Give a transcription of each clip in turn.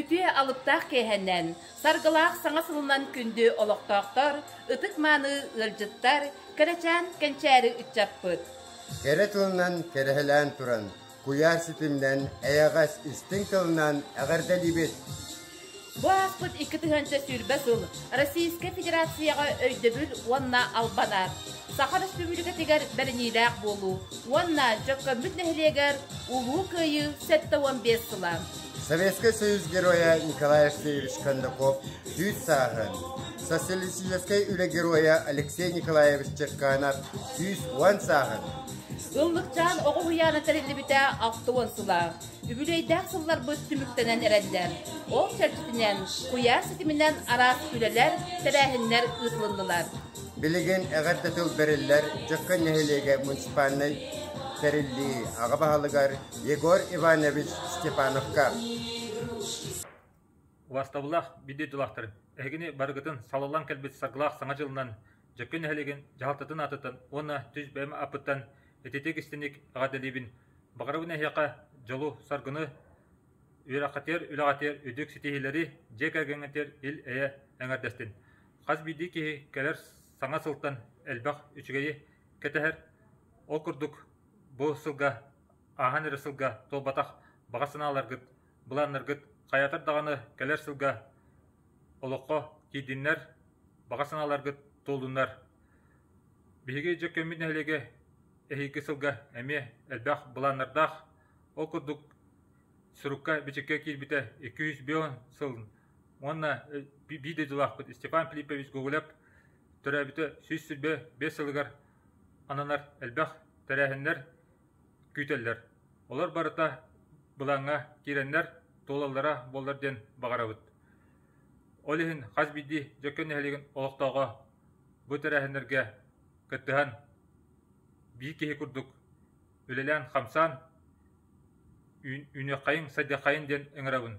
Үтүө алыптаах кээһэннэн, саргылаах саҥа сылынан күндү олохтоохтор, ытык-мааны ыалдьыттар, кэрэчээн кэнчээри ыччаппыт. Кэрэ тылынан кэрэһэлээн туран, Куйаар ситиминэн эйэҕэс истиҥ тылынан эҕэрдэлиибит! Бу ааспыт икки тыһыынча сүүрбэ сыл Российскай Федерацияҕа өйдөбүл уонна албанар, Саха Республикатыгар бэриниилээх буолуу уонна Дьөккөммүт нэһилиэгэр Улуу Кыайыы сэттэ уон биэс сыла, Советскай Союз Геройа Николай Алексеевич Кондаков үүт сааһын, Социалистическай Үлэ Геройа Алексей Николаевич Черканов сүүс уон сааһын, Ыллыкчаан оҕо уһуйаана тэриллибитэ алта уон сыла. Үбүлүөйдээх сылларбыт түмүктэнэн эрэллэр. Ол чэрчитинэн куйаар ситиминэн араас үлэлэр, тэрээһиннэр ыытылыннылар. Билигин эҕэр да тыл бэриллэр Дьөккөн нэһилиэгэ муниципальнай тэриллии аҕа баһылыгар Егор Иванович Степановка. Уастабыллаах бүддүй тулахтарын, эһигини барыгытын салаллан кэлбит саргылаах саҥа дьылынан Дьэккэ нэһилигин дьаһалтатын аатыттан уонна түс бэйэм аппыттан ититик истиник эҕэрдэлиибин. Баҕарабын эһиэхэ дьолу, саргыны, үөрэххитигэр, үлэҕитигэр үрдүк ситиһиилэри, дьиэ кэргэҥҥитигэр ил-эйэ эҥэрдэстин. Хас биирдии киһи кэлэр саҥа сылтан элбэх үчүгэйи кэтэһэр. Ол курдук бу сылга ааһан эрэр сылга туолбатах баҕа санааларгыт, былааннаргыт хайатар даҕаны кэлэр сылга Олоххо тиийдиннэр, баҕа санааларгыт туолуннар. Биһиги Дьөккөммүт нэһилиэгэ эһиги сылга эмиэ элбэх былааннардаах, ол курдук сурукка-бичиккэ киирбитэ икки сүүс биэс сылын уонна биир дойдулаахпыт Степан Филиппович Гоголев төрөөбүтэ сүүс сүүрбэ биэс сылыгар ананар элбэх тэрээһиннэр күүтэллэр. Олор барыта былаҥҥа киирэннэр туолаллара буоллар диэн баҕарабыт. Ол иһин хас биирдии дьокуун нэһилиэгин олохтооҕо бу тэрээһиннэргэ кыттыһан биир киһи курдук үлэлээн-хамсаан үүнүөххэйиҥ-сайдыаххайыҥ диэн ыҥырабын.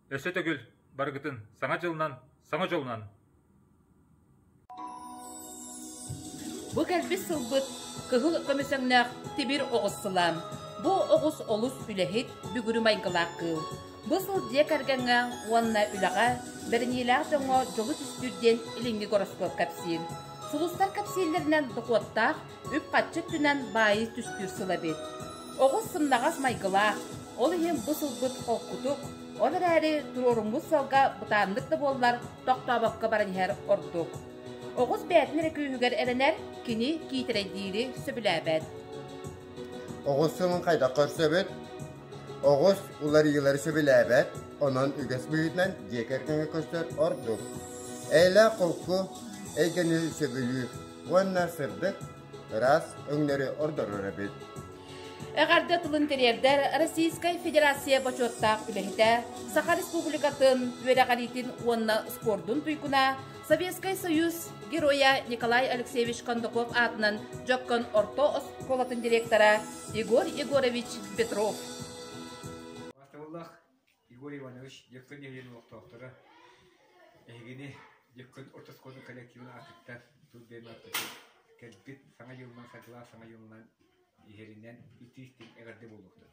Өссө төгүл Барыгытын саҥа дьылынан, саҥа дьолунан! Бу кэлбит сылбыт кыһыл көмүсөҥнөөх тимир оҕус сылаан. Бу оҕус олус үлэһит, бүгүрү майгылаах кыыл. Бу сыл дьиэ кэргэҥҥэ уонна үлэҕэ бэриниилээх дьоҥҥо дьолу түстүүр диэн илиҥҥи гороскуоп кэпсиир. Сулустар кэпсииллэринэн дохуоттаах үп-харчы өттүнэн баайыы түстүүр сыл эбит. Оҕус сымнаҕас майгылаах, ол иһин бу сылбыт холкутук, ол эрээри туруоруммут сылга бытааннык да буоллар тохтообокко баран иһэр ордук. Оҕус бэйэтин эрэ күүһүгэр эрэнэр, кини киитэрэйдиири сөбүлээбэт. Оҕус сылын хайдах көрсөбүт? Оҕус уларыйыылары сөбүлээбэт, онон үгэс быһыытынан дьиэ кэргэҥҥэ көрсөр ордук. Эйэлээх холку, эйгэни сөбүлүүр, уонна сырдык, ыраас өҥнөрү ордорор эбит. Эҕэрдэ тылын тириэрдэр Российскай Федерация бочуоттаах үлэһитэ, Саха Республикатын үөрэҕириитин уонна спордун туйгуна, Советскай Союз Геройа Николай Алексеевич Кондаков аатынан Дьоккон орто оскуолатын директора Егор Егорович Петров. Егор Иванович Дьыккын иһийэн олохтоохторо, эһигини Дьыккын орто оскуола коллективын аатыттан тыл диэн ааттатан кэлбит саҥа дьылынан садьылаан саҥа дьылынан иһэринэн итии-истиҥ эҕэрдэ буолуохтун.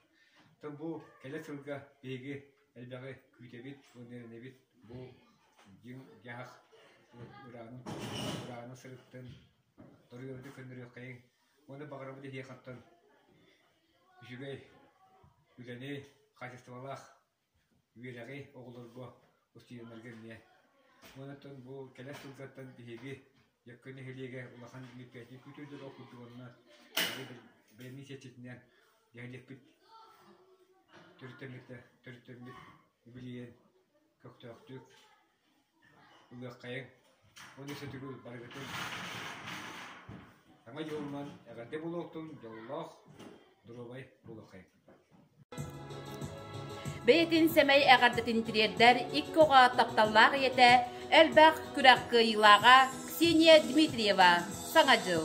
Оттон бу кэлэр сылга биһиги элбэҕи күүтэбит, иҥэринэбит бу дьиҥ дьаһах ыраанын ыраанын сырыттын, торуйуорду көннөрүөххэйиҥ Уонна баҕарабыт эһиэхэттэн үчүгэй үлэни, хаачыстыбалаах үөрэҕи оҕолорго устуйаннарга эмиэ. Уонуттан бу кэлэр сылдартан биһиги Дьөккө нэһилиэгэ улахан медпиэтинэй күүтэрдэр ол курдук уонна бэлэмнии чэрчитинэн нэһилиэкпит төрүттэммитэ төрүттэммит үбүлүйэн көхтөөхтүк Ылыаххайыҥ уонна сөтүгү барыгытын саҥа дьылынан эҕэрдэ буолуохтун дьоллоох доруобай буолуоххайыҥ Бэйэтин сэмэй эҕэрдэтин тириэрдэр икки оҕо тапталлаах ийэтэ, элбэх күрэх кыайыылааҕа Ксения Дмитриева Саҥа дьыл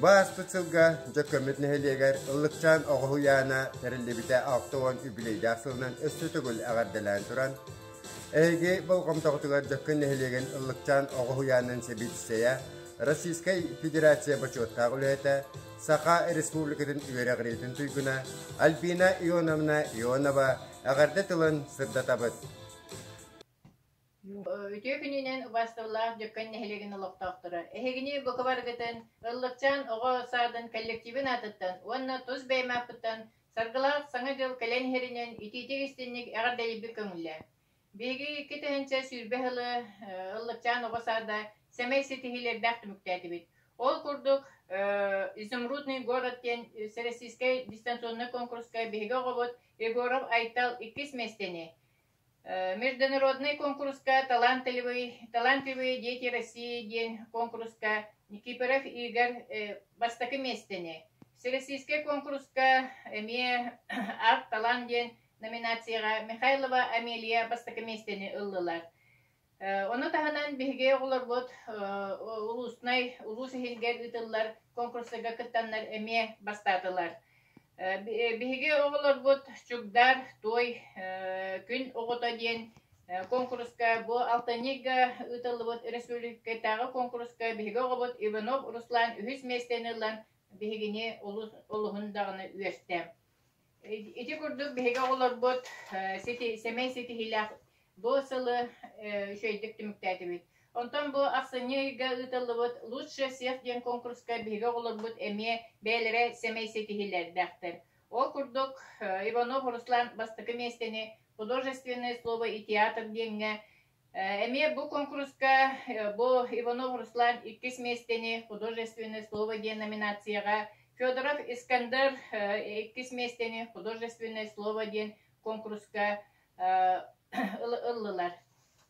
Бу ааспыт сылга Дьөккөммүт нэһилиэгэр Ыллыкчаан оҕо уйаана тэриллибитэ алта уон үбүлүөйдээх сылынан өссө төгүл эҕэрдэлээн туран, эһиги болҕомтоҕутугар Дьөккөн нэһилиэгин Ыллыкчаан оҕо уйаанын сэбиэдиссэйэ, Российскай Федерация бочуоттаах үлэһитэ, Саха Республикатын үөрэҕириитин туйгуна Альбина Ионовна Ионова эҕэрдэ тылын сырдатабыт. Үтүө күнүнэн убастыллаах Дьөккөн нэһилиэгин олохтоохторо! Эһигини букубаргытын Ыллыкчаан оҕо саадын коллективын аатыттан уонна тус бэйэм ааппыттан Саргылаах Саҥа дьыл кэлэн иһэринэн итиитик-истинник эҕэрдэлиирбит көҥүллээх. Биһиги икки тыһыынча сүүрбэ сылы Ыллыкчаан оҕо саада сэмэй ситиһиилэрдээх түмүктээтибит. Ол курдук, «Изумрудный город» диэн сэрэстиискэй дистанционнай куонкуруска биһиги оҕобут Егоров Айтал иккис миэстэни, международнай куонкуруска талантливый талантливые дети России диэн куонкуруска Никифоров Игорь бастакы миэстэни, Всероссийскай куонкуруска эмиэ Art талант диэн номинацияҕа Михайлова Амелия бастакы миэстэни ыллылар. Ону таһынан биһиги оҕолорбут улуустунай улуус иһигэр ыытыллар конкурсарга кыттаннар эмиэ бастаатылар. Биһиги оҕолорбут Чугдар той күн оҕото диэн конкурска бу алтынньыга ыытыллыбыт өрөспүүбүлүкэтээҕи конкурска биһиги оҕобут Иванов Руслан үһүс миэстэни ылан биһигини олуһун даҕаны үөртэ. Ити курдук биһиги оҕолорбут сити, сэмэй ситиһиилээх бу сылы үчүгэйдик түмүктээтибит. Онтон бу ахсынньы ыйга ыытыллыбыт «Лучшие всех» диэн конкурска биһиги оҕолорбут эмиэ бэйэлэрэ сэмэй ситиһиилэрдээхтэр. Ол курдук Иванов Руслан бастакы миэстэни «Художественное слово и театр» диэҥҥэ Эмиэ бу куонкуруска бу Иванов Руслан иккис миэстэни «Художественное слово» диэн номинацияҕа, Федоров Искандер иккис миэстэни «Художественное слово» диэн куонкуруска ыллылар.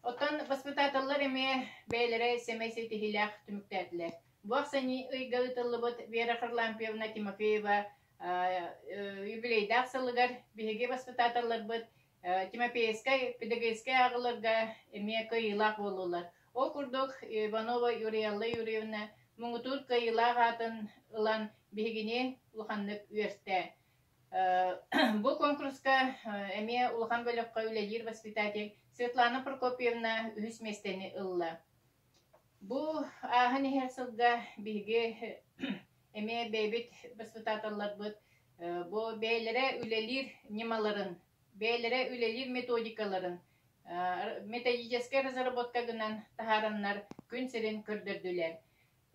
Оттон воспитателлар эмиэ бэйэлэрэ сэмэй ситиһиилээх түмүктээтилэр. Бу ахсынньы ыйга ыытыллыбыт Вера Харлампьевна Тимофеева юбилейдаах сылыгар биһиги воспитателларбыт Тимофеевскай педагогическай ааҕыларга эмиэ кыайыылаах буоллулар. Ол курдук Иванова Юриалла Юрьевна муҥутуур кыайыылаах аатын ылан биһигини улаханнык үөртэ. Бу конкурска эмиэ улахан бөлөххө үлэлиир воспитатель Светлана Прокопьевна үһүс миэстэни ылла. Бу ааһан иһэр сылга биһиги эмиэ бэйэбит баспытааталларбыт бу бэйэлэрэ үлэлиир ньымаларын, бэйэлэрэ үлэлиир методикаларын методическай разработка гынан таһаараннар күн сирин көрдөрдүлэр.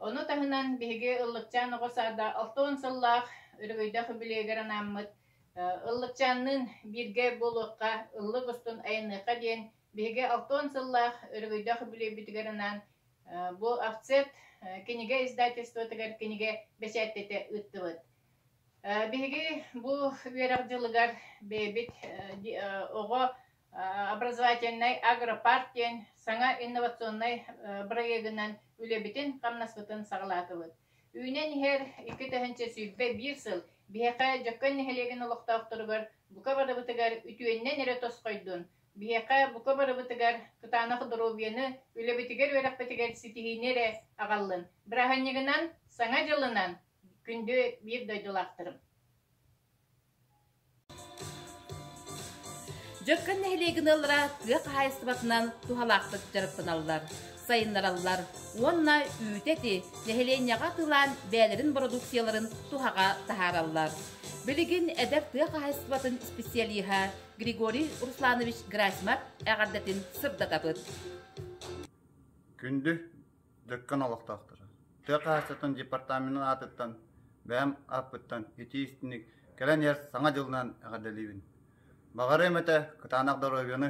Ону таһынан биһиги Ыллыкчаан оҕо саада алтан сыллаах өрөгөйдөөх үбүлүөйүгэр анааммыт Ыллыкчаанныын бииргэ буолуохха, ыллык устун айанныахха диэн Биһиги алтан сыллаах өрөгөйдөөх үбүлүөйбүтүгэр анаан бу АВЦЕТ кинигэ издательствотыгар кинигэ бэчээттэтэ ыыттыбыт. Биһиги бу үөрэх дьылыгар бэйэбит оҕо образовательнай агропарк диэн саҥа инновационнай бырайыагынан үлэбитин хамнаспытын саҕалаатыбыт. Үүнэн иһэр икки тыһыынча сүүрбэ биир сыл биһиэхэ Дьөккөн нэһилиэгин олохтоохторугар бука барыбытыгар үтүөннэн эрэ тосхойдун, Биһиэхэ, бука барыбытыгар, кытаанах доруобуйаны, үлэбитигэр-үөрэхпитигэр ситиһиини эрэ аҕаллын. Бырааһынньыгынан, Саҥа дьылынан күндү биир дойдулаахтарым! Дьөккөн нэһилиэгин ыаллара тыа хаһаайыстыбатынан туһалаахтык дьарыктаналлар, сайыннараллар уонна үүтэ эти нэһилиэнньэҕэ атыылаан бэйэлэрин бородууксуйаларын туһаҕа таһаараллар. Билигин эдэр тыа хаһаайыстыбатын специалиһа Григорий Русланович Грасьмар эҕэрдэтин сырдатабыт. Күндү дьөккөн олохтоохторо, тыа хаһааччытын департаментын аатыттан бэйэм ааппыттан итии истинник кэлэн иһэр саҥа дьылынан эҕэрдэлиибин. Баҕарыам этэ кытаанах доруобуйаны,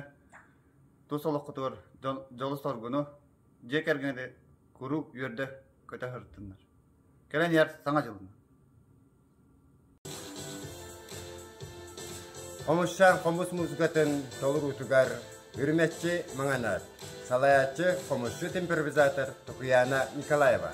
тус олоххутугар дьолу-соргуну, дьиэ кэргэни куруук үөрдэ көтө сырыттыннар. Кэлэн иһэр саҥа дьылынан. Омукчаан хомус муусукатын толоруутугар үрүмэччи маҥанар, салайааччы хомусчут импровизатор Тукуяна Николаева.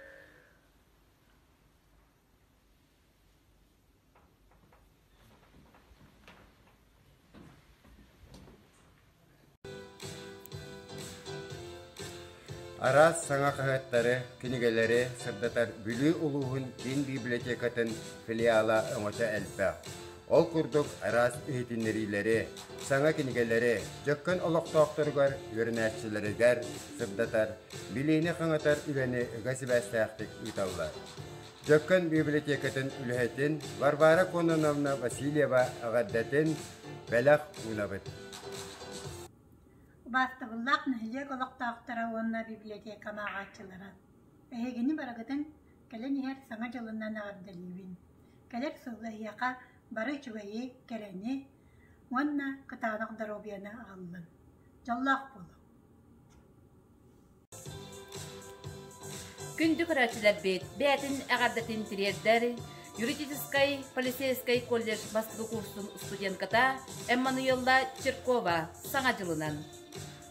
араас саҥа хаһыаттары, кинигэлэри сырдатар Бүлүү улууһун киин библиотекатын филиала өҥөтө элбэх. Ол курдук араас иһитиннэриилэри, саҥа кинигэлэри Дьөккөн олохтоохторугар, үөрэнээччилэригэр сырдатар, билиини хаҥатар үлэни ыга сибээстээхтик ыыталлар. Дьөккөн библиотекатын үлэһитин Варвара Кононовна Васильева эҕэрдэтин бэлэх уунабыт. Убаастабыллаах нэһилиэк олохтоохторо уонна библиотека ааҕааччылара! Эһигини барыгытын кэлэн иһэр Саҥа дьылынан эҕэрдэлиибин! Кэлэр сыл эһиэхэ бары үчүгэйи, кэрэни уонна кытаанах доруобуйаны аҕаллын. Дьоллоох буолуҥ! Күндү көрөөччүлэрбит, бэйэтин эҕэрдэтин тириэрдэр юридическай полицейскай колледж бастакы курсун студентката Эммануила Черкова саҥа дьылынан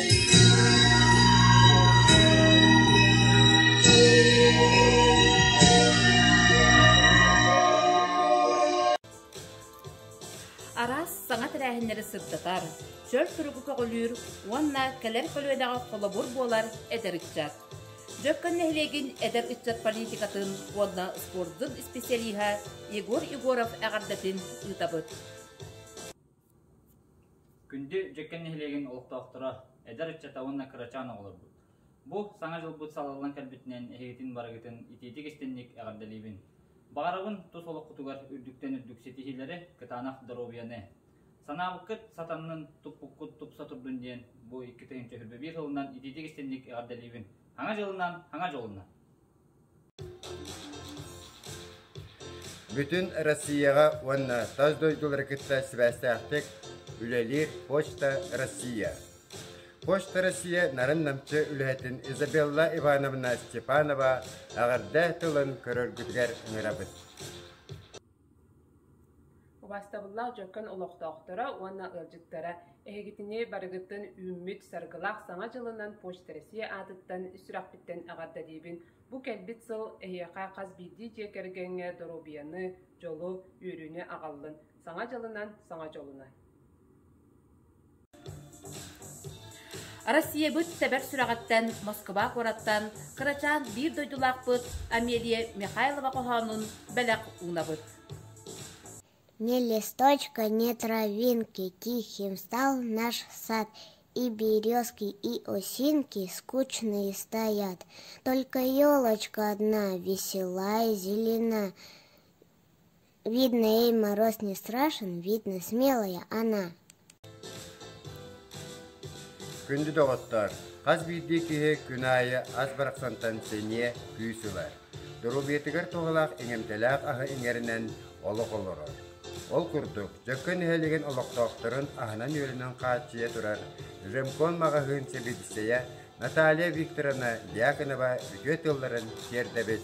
Араас саҥа тэрээһиннэри сырдатар, чөл суругу көҕүлүүр уонна кэлэр көлүөнэҕэ холобур буолар эдэр ыччат. Дьөккөн нэһилиэгин эдэр ыччат политикатын уонна спордун исписэлииһэ Егор Егоров эҕэрдэтин ыытабыт. Күндү Дьэкэн нэһилиэгин олохтоохторо, эдэр ыччата уонна кырачаан оҕолорбут! Бу Саҥа дьылбыт салаллан кэлбитинэн эһигитин барыгытын итиитик истинник эҕэрдэлиибин! Баҕарабын тус олоххутугар үрдүктэн үрдүк ситиһиилэри, кытаанах доруобуйаны! Санаабыккыт сатаннын, туппуккут тупса турдун диэн бу икки тыһыынча сүүрбэ биир сылынан итиитик истинник эҕэрдэлиибин! Хаҥа дьылынан, хаҥа дьолунан! Бүтүн Россияҕа уонна тас дойдулары кытта сибээстээхтик үлэлиир Почта Россия. Почта Россия нарын-намчы үлэһитин Изабелла Ивановна Степанова эҕэрдэ тылын көрөргүтүгэр ыҥырабыт. Убастабыллаах дьөккөн олохтоохторо уонна ыалдьыттара эһигитини барыгытын үүммүт Саргылаах Саҥа дьылынан Почта Россия аатыттан сүрэхпиттэн эҕэрдэ диибин бу кэлбит сыл эһиэхэ хас биирдии дьиэ кэргэҥҥэ доруобуйаны, дьолу, үөрүүнү аҕаллын, Саҥа дьылынан саҥа дьолуну! Россиябыт сэбэр сүрэҕиттэн Москва куораттан кырачаан биир дойдулаахпыт Амелия Михайлова хоһоонун бэлэх уунабыт. Не листочка, не травинки, тихим стал наш сад, и березки, и осинки скучные стоят. Только елочка одна, весела и зелена. видно ей мороз не страшен видно смелая она Күндү доҕоттоор, хас биирдии киһи күн аайы ас барахсантан сэниэ, күүс ылар. Доруобуйатыгар туһалаах иҥэмтэлээх аһы иҥэринэн олох олорор. Ол курдук, Дьөккөн нэһилиэгин олохтоохторун аһынан-үөлүнэн хааччыйа турар Ремкон маҕаһыын сэбиэдиссэйэ Наталья Викторовна Дьяконова үтүө тылларын тиэрдэбит.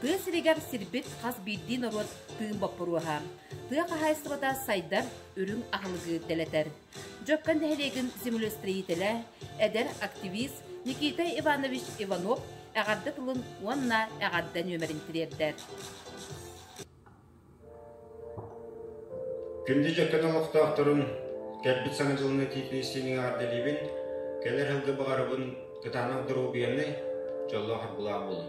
Тыа сиригэр сирбит хас биирдии норуот тыын боппуруоһа, тыа хаһаайыстыбата сайдар, үрүҥ аһылыгы дэлэтэр. Дьөккөн нэһилиэгин землестроителэ, эдэр активист Никита Иванович Иванов эҕэрдэ тылын уонна эҕэрдэ нүөмэрин тириэрдэр. Күндү дьэккэн олохтоохторун, кэлбит Саҥа дьылын этиитин истиниҥ эҕэрдэлиибин, кэлэр сылга баҕарабын кытаанах доруобуйаннай, дьоллоох арбылаах буолуҥ!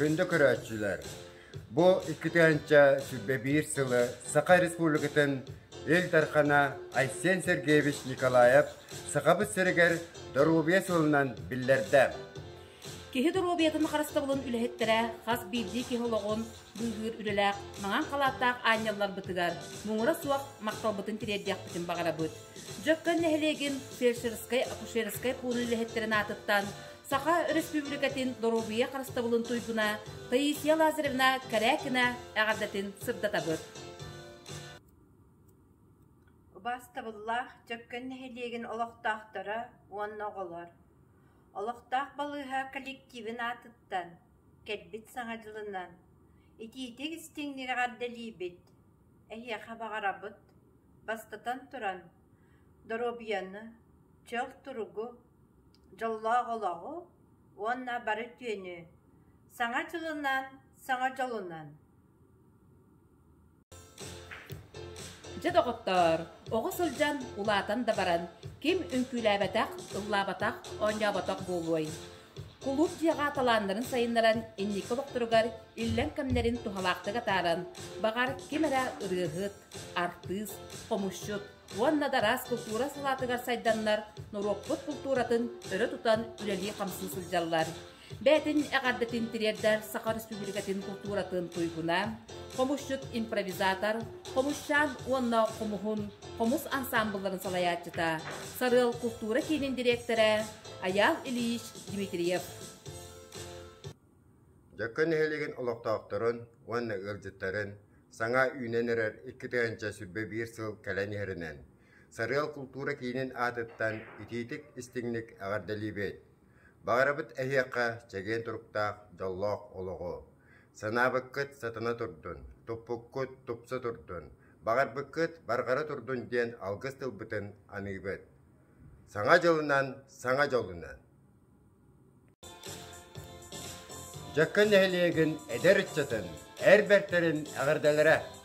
Күндө көрөөччүлэр, бу иккитэнчэ сүбэ биир сылы Саха Республикатын Ил Дархана Айсен Сергеевич Николаев Сахабыт сиригэр доруобуйа сылынан биллэрдэ. Киһи доруобуйатын харыстабылын үлэһиттэрэ хас биирдии киһи олоҕун быыһыыр үлэлээх маҥан халааттаах аанньалларбытыгар муҥура суох махталбытын тириэрдиэхпитин баҕарабыт. Дьөккөн нэһилиэгин фельдшерскай-акушерскай пуун үлэһиттэрин аатыттан Саха Өрөспүүбүлүкэтин доруобуйа харыстабылын туйгуна Таисия Лазаревна Карякина эҕэрдэтин сырдатабыт. Бастабыллаах Дьөккөн нэһилиэгин олохтоохторо уонна оҕолор Олохтоох балыыһа коллективын аатыттан, кэлбит Саҥа дьылынан итиитик-истиҥник эҕэрдэлиибит! Эһиэхэ баҕарабыт, бастатан туран, доруобуйаны, чөл туругу, дьоллоох олоҕу уонна бары үтүөнү! Саҥа дьылынан, саҥа дьолунан! Дьэ доҕоттоор, оҕо сылдьан, улаатан да баран, ким үҥкүүлээбэтэх, ыллаабатах, оонньооботох буолуой? Кулууп дьиэҕэ талааннарын сайыннаран, инники олохторугар иллэҥ кэмнэрин туһалаахтык атааран, баҕар, ким эрэ ырыаһыт, артыыс, хомусчут уонна да араас култуура салаатыгар сайданнар, норуоппут култууратын өрө тутан үлэлии-хамсыы сылдьаллар. Бээтин эҕэрдэтин тириэрдэр Саха Республикатын култууратын туйгуна, хомусчут импровизатор, хомусчаан уонна хомуһун хомус ансаамбылларын салайааччыта, Сарыал култуура киинин дириэктэрэ Аял Ильич Дмитриев. Дьөккө нэһилигин олохтоохторун уонна ыалдьыттарын саҥа үүнэн эрэр икки тыһыынча сүрбэ биир сыл кэлэн иһэринэн Сарыал култуура киинин аатыттан итиитик-истиҥник эҕэрдэлиибит! Баҕарабыт эһиэхэ чэгиэн туруктаах дьоллоох олоҕу! Санаабыккыт сатана турдун, туппуккут тупса турдун, баҕарбыккыт барҕара турдун диэн алгыс тылбытын аныыбыт. Саҥа дьылынан, саҥа дьолунан! Дьэккэн нэһилиэгин эдэр ыччатын, эр бэртэрин эҕэрдэлэрэ!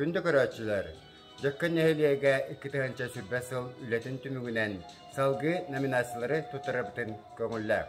Күндү көрөөччүлэр, Дьөккөн нэһилиэгэ икки тыһыынча сүрбэ сыл үлэтин түмүгүнэн салгыы номинациялары туттарарбытын көҥүллээх.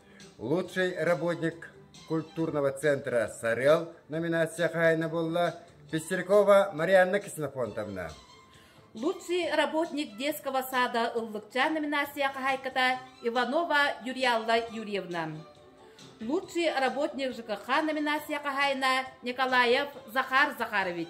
Лучший работник культурного центра «Сарыал» номинация хаһаайына буолла Пестеркова Марианна Ксенофонтовна. Лучший работник детского сада ыллыкча номинация хаһайката Иванова Юрьялла Юрьевна. Лучший работник ЖКХ номинация хаһайына Николаев Захар Захарович.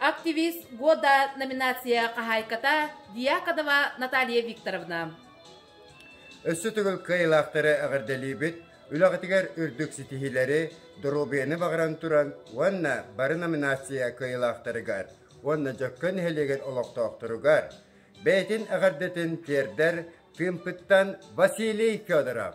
«Активист года» номинация хаһаайката Диаконова Наталья Викторовна. Өссө төгүл кыайылаахтары эҕэрдэлиибит, үлэҕитигэр үрдүк ситиһиилэри, доруобуйаны баҕаран туран уонна бары номинация кыайылаахтарыгар уонна Дьөккөн нэһилиэгин олохтоохторугар бэйэтин эҕэрдэтин тиэрдэр тыымпыттан Василий Федоров.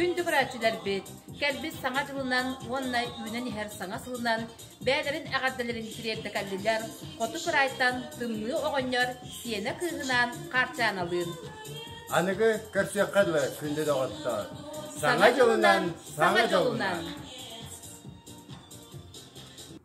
Күндү көрөөччүлэрбит, кэлбит Саҥа дьылынан уонна үүнэн иһэр саҥа сылынан бэйэлэрин эҕэрдэлэрин тириэрдэ кэллилэр, хоту кыраайтан Тымныы оҕонньор сиэнэ кыыһынаан Хаарчааналыын. Аныгы көрсүөххэ дылы күндү доҕоттоор. Саҥа дьылынан, саҥа дьылынан.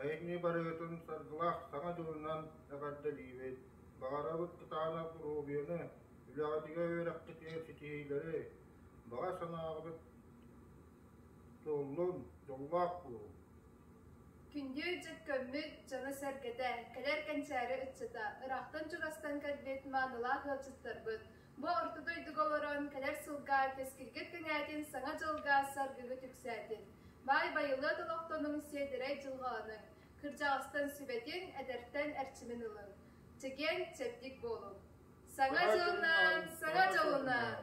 Айымньы барыгытын саргылаах саҥа дьылынан эҕэрдэлиибит! Баҕарабыт кытаанах доруобуйаны, үлэҕитигэр үөрэххитигэр ситиһиилэри, баҕа санааҕытыт туоллун, дьоллоох буолун! Күндү дьыккаммыт дьоно-сэргэтэ, кэлэр кэнчээри ыччата, ыраахтан чугастан кэлбит маанылаах ыалдьыттарбыт, Бу орто дойдуга олорон кэлэр сылга кэскилгэ кэҥээтин Саҥа дьылга саргыгы түксээтин, баай байылыат олохтонуҥ сиэдэрэй дьылҕаланыҥ, кырдьаҕастан сүбэтин, эдэртэн эрчимин ылыҥ, чэгиэн, чэбдик буолуҥ. Саҥа дьылынан, саҥа дьылынан!